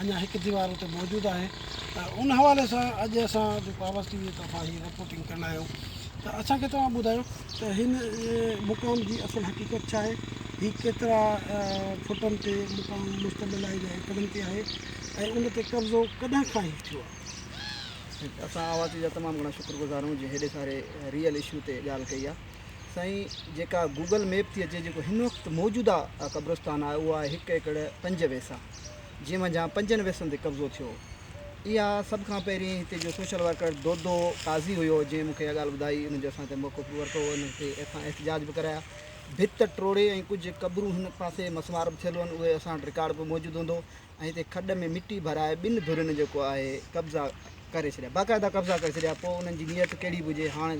اڃا هڪ ديوار اتي موجود آهي ته ان حوالي سان اڄ اسان جو پاورس ٽي وي طرفان هي رپورٽنگ ڪندا آهيون ته اسان کي توهان ٻڌايو ته هن مقام جي اصل حقيقت ڇا آهي هي ڪيترا فٽن تي مقام مشتمل آهي يا ايڪڙن تي آهي ۽ ان تي قبضو ڪڏهن کان هي ٿيو آهي اسان آواز ٽي وي جا تمام گھڻا شڪر گذار آهيون جنهن هيڏي ساري ريئل اشو تي ڳالهه ڪئي آهي سائين جيڪا گوگل ميپ ٿي اچي جيڪو هن وقت موجوده قبرستان آهي اهو آهي هڪ ايڪڙ پنج ويسا جنهن منجهان پنجن ويسن تي قبضو ٿيو. اها سڀ کان پهرين هتي جو سوشل ورڪر دودو قاضي هيو، جنهن مون کي اها ڳالهه ٻڌائي. هن جو اسان تي موقف به ورتو، هن هتي ايٿان احتجاج به ڪرايا. ڀت ٽوڙي ۽ ڪجهه قبرون هن پاسي مسمار به ٿيل هئن، اهي اسان وٽ رڪارڊ به موجود هوندو ۽ هتي کڏ ۾ مٽي ڀرائي ٻن ڌرين جيڪو آهي قبضا ڪري ڇڏيا باقاعده قبضا ڪري ڇڏيا پوء انهن جي نيت ڪهڙي به هجي هاڻ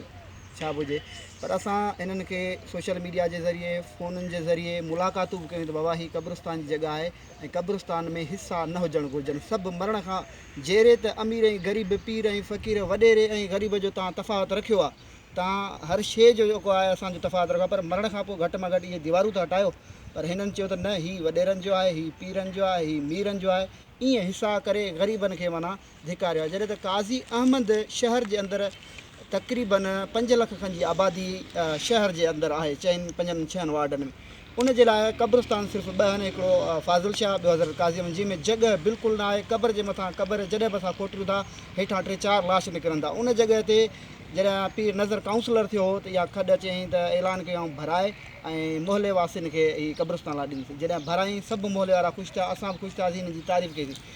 ڇا به هجي پر اسان انهن کي سوشل ميڊيا جي ذريعي فونن جي ذريعي ملاقاتون به ڪيون ته بابا هي قبرستان جي جڳهه آهي ۽ قبرستان ۾ حصا نه هجڻ گهرجن سڀ مرڻ کان جيري ته امير ۽ غريب پير ۽ فقير وڏيري ۽ غريب جو تان تفاوت رکيو آهي تان هر شيء جو جيڪو آهي اسانجو تفاوت رکيو پر مرڻ کان پوء گهٽ مان گهٽ اهي ديوارون ته هٽايو پر هنن چيو ته نه هي وڏيرن جو آهي هي پيرن جو آهي هي ميرن جو آهي ايئن حصا ڪري غريبن کي معنيٰ ڌڪاريو آهي جڏهن ته قاضي احمد شهر جي اندر تقريباً پنج لک کن جي آبادي شهر جي اندر آهي چئن پنجن ڇهن وارڊن ۾ ان جي لاء قبرستان صرف ٻه آهن هڪڙو فاضل شاهه ٻيو حضرت قاضي احمد جنهن ۾ جڳهه بلڪل نه آهي قبر جي مٿان قبر جڏهن به اسان کوٽيون ٿا هيٺان ٽي چار لاش نڪرن ٿا ان جڳهه تي جڏهن پير نظر ڪائونسلر ٿيو هو ته اها کڏ چيائين ته اعلان ڪيائون ڀرائي ۽ محلي واسين کي هي قبرستان لاء ڏنسي جڏهن ڀرائين سڀ محلي وارا خوش ٿيا اسان به خوش ٿياسين هن جي تعريف ڪئيسين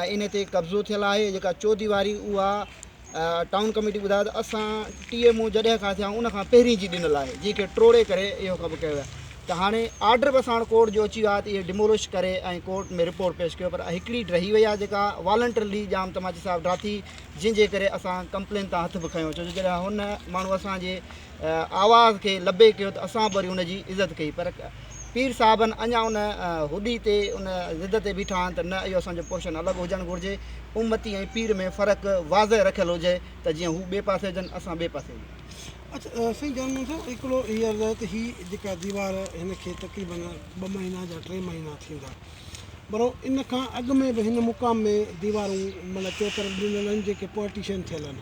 ۽ ان تي قبضو ٿيل آهي جيڪا چوديواري اها ٽائون ڪميٽي ٻڌايو ته اسان ٽي ايم او جڏهن کان ٿيا ان کان پهرين جي ڏنل آهي جنهن کي ٽوڙي ڪري اهو ڪم ڪيو ويو ته هاڻي آرڊر به اسان وٽ ڪورٽ جو اچي ويو آهي ته اهي ڊمولش ڪري ۽ ڪورٽ ۾ رپورٽ پيش ڪيو پر هڪڙي رهي وئي آهي جيڪا والنٽرلي ڄام تماچي صاحب ڊاٿي جنهن جي ڪري اسان ڪمپلين تان هٿ به کنيو ڇو جو جڏهن هن ماڻهو اسانجي آواز کي لبيڪ ڪيو ته اسان به وري ان جي عزت ڪئي پر پير صاحبن اڃا ان هڏي تي ان ضد تي بيٺا آهن ته نه اهو اسان جو پورشن الڳ هجڻ گهرجي امتي ۽ پير ۾ فرق واضح رکيل هجي ته جيئن هو ٻئي پاسي هجن اسان ٻئي پاسي هجون. اچ سائين جان مون سان هڪڙو هي عرض آهي ته هي جيڪا ديوار هن کي تقريبن ٻه مهينا جا ٽي مهينا ٿيندا. برونهه ان کان اڳ ۾ به هن مقام ۾ ديوارون معنيٰ چوطرف ڏنل آهن جيڪي پارٽيشن ٿيل آهن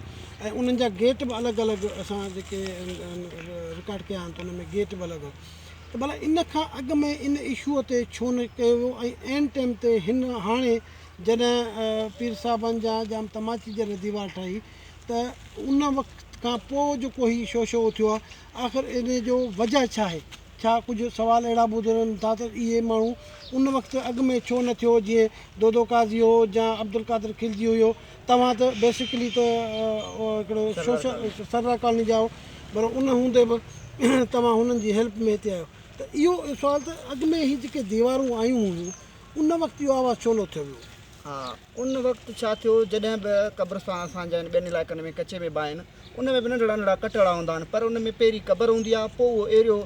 ۽ انهن جا گيٽ به الڳ الڳ اسان جيڪي رڪارڊ ڪيا آهن ته ان ۾ گيٽ به الڳ هو ته ڀلا ان کان اڳ ۾ ان اشوء تي ڇو نه ڪيو ويو ۽ عين ٽيم تي هن هاڻي جڏهن پير صاحبان جا جام تماچي جڏهن ديوار ٺاهي ته ان وقت کان پوء جو ڪو هي شو شو اٿيو آهي آخر ان جو وجهه ڇا آهي ڇا ڪجهه سوال اهڙا ٻوڌي وڃن ٿا ته اهي ماڻهو ان وقت اڳ ۾ ڇو نه ٿيو جيئن دودو قاضي هو يا عبدالقادر خلجي هيو توهان ته بيسڪلي ته هڪڙو سوشل سرور ڪالوني جا آهيو پر ان هوندي به توهان هنن جي هيلپ ۾ هتي آهيو ته اهو سوال ته اڳ ۾ هي جيڪي ديوارون آيون هيون ان وقت اهو آواز ڇو نه اٿيو ويو. ان وقت ڇا ٿيو جڏهن به قبرستان اسان جا ٻين علائقن ۾ ڪچي ۾ به آهن ان ۾ به ننڍڙا ننڍڙا ڪٽ اڙا هوندا آهن پر ان ۾ پهرين قبر هوندي آهي پوء اهو ايريو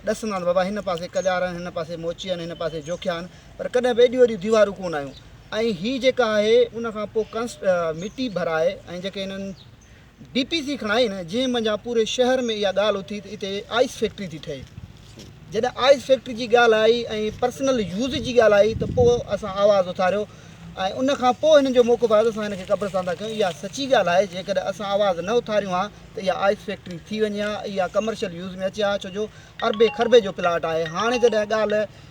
ڏسندا آهن بابا هن پاسي ڪڄار آهن هن پاسي موچي آهن هن پاسي جوکيا آهن پر ڪڏهن به ايڏيون وڏيون ديوارون ڪونه آيون ۽ هي جيڪا آهي ان کان پوء ڪنس مٽي ڀرائي ۽ جيڪي هنن ڊي پي سي کڻ آئين جنهن منجهان پوري شهر ۾ اها ڳالهه اٿي ته اتي آئس فيڪٽري ٿي ٺهي جڏهن آئس فيڪٽري جي ڳالهه آئي ۽ پرسنل يوز جي ڳالهه آئي ته پوء اسان آواز اٿاريو ۽ ان کان پوء هنن جو موقف آيو ته اسان هن کي قبرستان ٿا ڪيون اها سچي ڳالهه آهي جيڪڏهن اسان آواز نه اٿاريون ها ته اها آئس فيڪٽري ٿي وڃي ها اها ڪمرشل يوز ۾ اچي ها ڇو جو اربين کربين جو پلاٽ آهي هاڻي جڏهن ڳالهه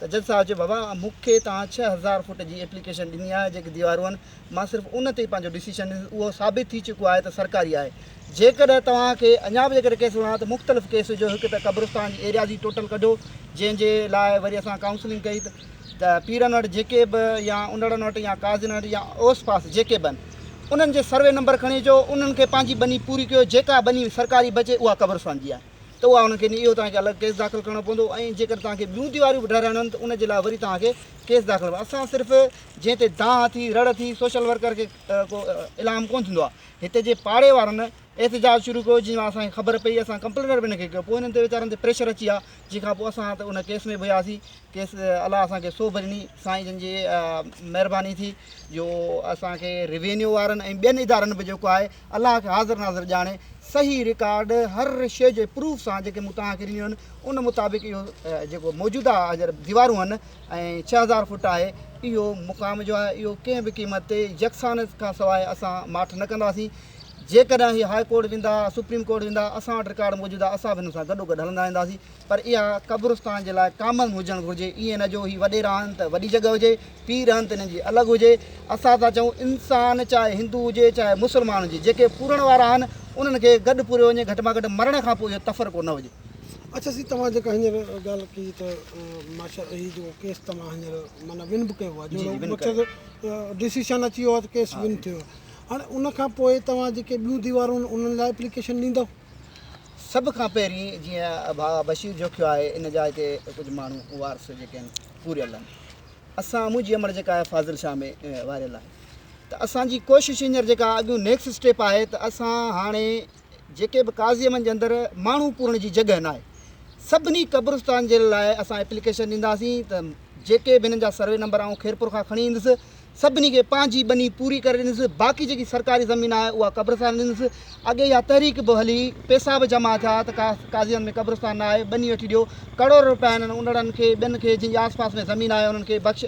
سجل صاحب چيو بابا مون کي توهان ڇهه هزار فوٽ جي ايپليڪيشن ڏني آهي جيڪي ديوارون آهن مان صرف ان تي پنهنجو ڊسيشن ڏيندس اهو ثابت ٿي چڪو آهي ته سرڪاري آهي جيڪڏهن توهان کي اڃا به جيڪڏهن ڪيس وڻان ته مختلف ڪيس وجهو هڪ ته قبرستان جي ايريازي ٽوٽل ڪڍو جنهن جي لاء وري اسان ڪائونسلنگ ڪئي ته پيرن وٽ جيڪي به يا انڙن وٽ يا قاضين وٽ يا اوس پاس جيڪي به انهن جي سروي نمبر کڻي اچو انهن کي پنهنجي ٻني پوري ڪيو جيڪا ٻني سرڪاري بچي اها قبرستان جي آهي ته اها انهن کي ني اهو توهان کي الڳ ڪيس داخل ڪرڻو پوندو ۽ جيڪڏهن توهان کي ٻيون تيواريون به ٺهرائڻيون آهن ته ان جي لاء وري توهان کي ڪيس داخل ڪرڻو اسان صرف جنهن تي دانهن اٿي رڙ اٿي سوشل ورڪر کي ڪو الهام ڪونه ٿيندو آهي هتي جي پاڙي وارن احتجاج شروع ڪيو جنهن مان اسان کي خبر پئي اسان ڪمپلينر به ان کي ڪيو پوء هنن تي ويچارن تي پريشر اچي ويا جنهن کان پوء اسان ته ان ڪيس ۾ به وياسين چيس الله اسان کي سوڀ ڏني سائين جن جي مهرباني ٿي جو اسان کي روينيو وارن ۽ ٻين ادارن به جيڪو آهي الله کي حاضر ناظر ڄاڻي صحيح رڪارڊ هر شي جي پروف سان جيڪي مون توهان کي ڏنيون آهن ان مطابق اهو جيڪو موجوده هجر ديوارون آهن ۽ ڇهه هزار فوٽ آهي اهو مقام جو آهي اهو ڪنهن به قيمت تي يڪسان کان سواء اسان ماٺ نه ڪنداسين جيڪڏهن هي هاء ڪورٽ ويندا سپريم ڪورٽ ويندا اسان وٽ رڪارڊ موجوده اسان به هن سان گڏو گڏ هلندا وينداسين پر اها قبرستان جي لاء ڪامن هجڻ گهرجي ائين نه جو هي وڏي رهن ته وڏي جڳهه هجي پيء رهن ته انهن جي الڳ هجي اسان ٿا چئون انسان چاهي هندو هجي چاهي مسلمان هجي جيڪي پورڻ وارا آهن انهن کي گڏ پوريو وڃي گهٽ مان گهٽ مرڻ کان پوء اهو تفرقو نه هجي. اڇا سي توهان جيڪا هينئر ڳالهه ڪئي ته ماشا هي جيڪو ڪيس توهان هينئر معنيٰ ون به ڪيو آهي جي جي ون ڊسيشن اچي ويو آهي ته ڪيس ون ٿيو آهي هاڻي ان کان پوء توهان جيڪي ٻيون ديوارون انهن لاء اپليڪيشن ڏيندؤ؟ سڀ کان پهرين جيئن ڀاء بشير جوکيو آهي ان جا هتي ڪجهه ماڻهو وارث جيڪي آهن پوريل آهن اسان منهنجي امڙ جيڪا آهي فاضل شاهه ۾ واريل آهي ته اسان جي ڪوشش هينئر جيڪا اڳيون نيڪسٽ اسٽيپ آهي ته اسان هاڻي جيڪي به قاضي من جي اندر ماڻهو پورڻ جي جڳهه ناهي سڀني قبرستان جي لاء اسان اپليڪيشن ڏينداسين ته جيڪي به هنن جا سروي نمبر آئون خيرپور کان کڻي ايندس سڀني کي پنهنجي ٻني پوري ڪري ڏنس باقي جيڪي سرڪاري زمين آهي اها قبرستان ڏنس اڳي اها تحريڪ به هلي پيسا به جمع ٿيا ته ڪا قاضيان ۾ قبرستان نه آهي ٻني وٺي ڏيو ڪروڙ روپيا هنن انڙن کي ٻين کي جن جي آس پاس ۾ زمين آهي انهن کي بخش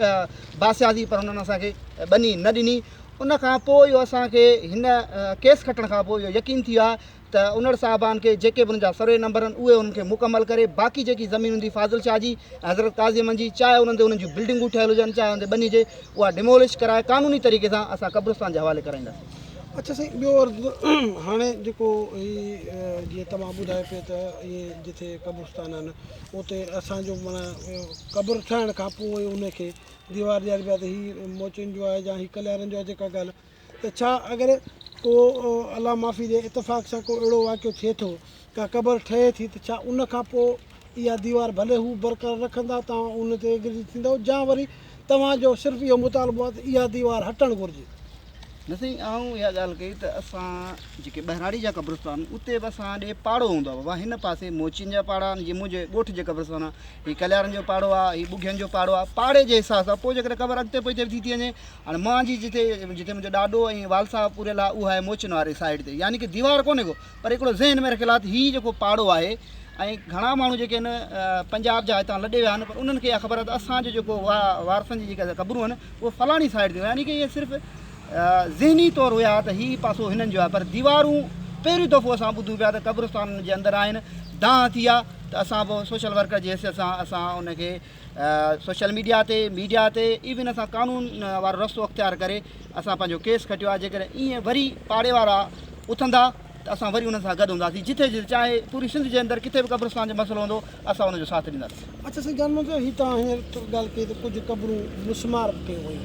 باسياسي پر هنن اسان کي ٻني نه ڏني ان کان پوء اهو اسان کي هن ڪيس کٽڻ کان پوء اهو يقين ٿي ويو آهي ته انڙ صاحبان کي جيڪي به انهن جا سروي نمبر هن اهي انهن کي مڪمل ڪري باقي جيڪي زمين هوندي فاضل شاهه جي ۽ حضرت قاضي احمد جي چاهي انهن تي انهن جون بلڊنگون ٺهيل هجن چاهي انهن تي ٻني هجي اها ڊيمولش ڪرائي قانوني طريقي سان اسان قبرستان جي حوالي ڪرائينداسين. اڇا سائين ٻيو عرض هاڻي جيڪو هي جيئن توهان ٻڌايو پئي ته اهي جتي قبرستان آهن اتي اسان جو معنيٰ قبر ٺهڻ کان پوء انهي کي ديوار ڏياربي آهي ته هي موچين جو آهي جا هي ڪليارن جو آهي جيڪا ڳالهه ته ڇا اگر ڪو الله معافي ڏي اتفاق سان ڪو اهڙو واقعو ٿئي ٿو، ڪا قبر ٺهي ٿي ته ڇا ان کان پوء اها ديوار ڀلي هو برقرار رکندا توهان ان تي ايگري ٿيندؤ جا وري توهان جو صرف اهو مطالبو آهي ته اها ديوار هٽڻ گهرجي. نه سائين آئون اها ڳالهه ڪئي ته اسان جيڪي ٻهراڙي جا قبرستان آهن اتي به اسان ڏي پاڙو هوندو آهي بابا هن پاسي موچين جا پاڙا آهن جي منهنجي ڳوٺ جي قبرستان آهن هي ڪليارن جو پاڙو آهي هي ٻگهين جو پاڙو آهي پاڙي جي حساب سان پوء جيڪڏهن قبر اڳتي پوئتي به ٿي ٿي وڃي هاڻي مان جي جتي جتي منهنجو ڏاڏو ۽ والد صاحب پوريل آهي اها آهي موچن واري سائيڊ تي يعني ڪي ديوار ڪونهي ڪو پر هڪڙو ذهن ۾ رکيل آهي ته هي جيڪو پاڙو آهي ۽ گهڻا ماڻهو جيڪي آهن پنجاب جا هتان لڏي ويا آهن پر انهن کي اها خبر آهي ته اسان جو جيڪو وارثن جي جيڪي قبرون آهن اهي فلاڻي سائيڊ تي يعني ڪي اهي صرف ذهني طور هيا ته هي پاسو هنن جو آهي پر ديوارون پهريون دفعو اسان ٻڌون پيا ته قبرستانن جي اندر آهن دانهن ٿي آهي ته اسان به سوشل ورڪر جي حيثيت سان اسان ان کي سوشل ميڊيا تي ميڊيا تي ايون اسان قانون وارو رستو اختيار ڪري اسان پنهنجو ڪيس کٽيو آهي جيڪڏهن ايئن وري پاڙي وارا اٿندا ته اسان وري انهن سان گڏ هونداسين جتي جتي چاهي پوري سنڌ جي اندر ڪٿي به قبرستان جو مسئلو هوندو اسان ان جو ساٿ ڏينداسين اچا سائين جان منهنجو هي توهان هينئر ڳالهه ڪئي ته ڪجهه قبرون مسمار به ڪيون ويون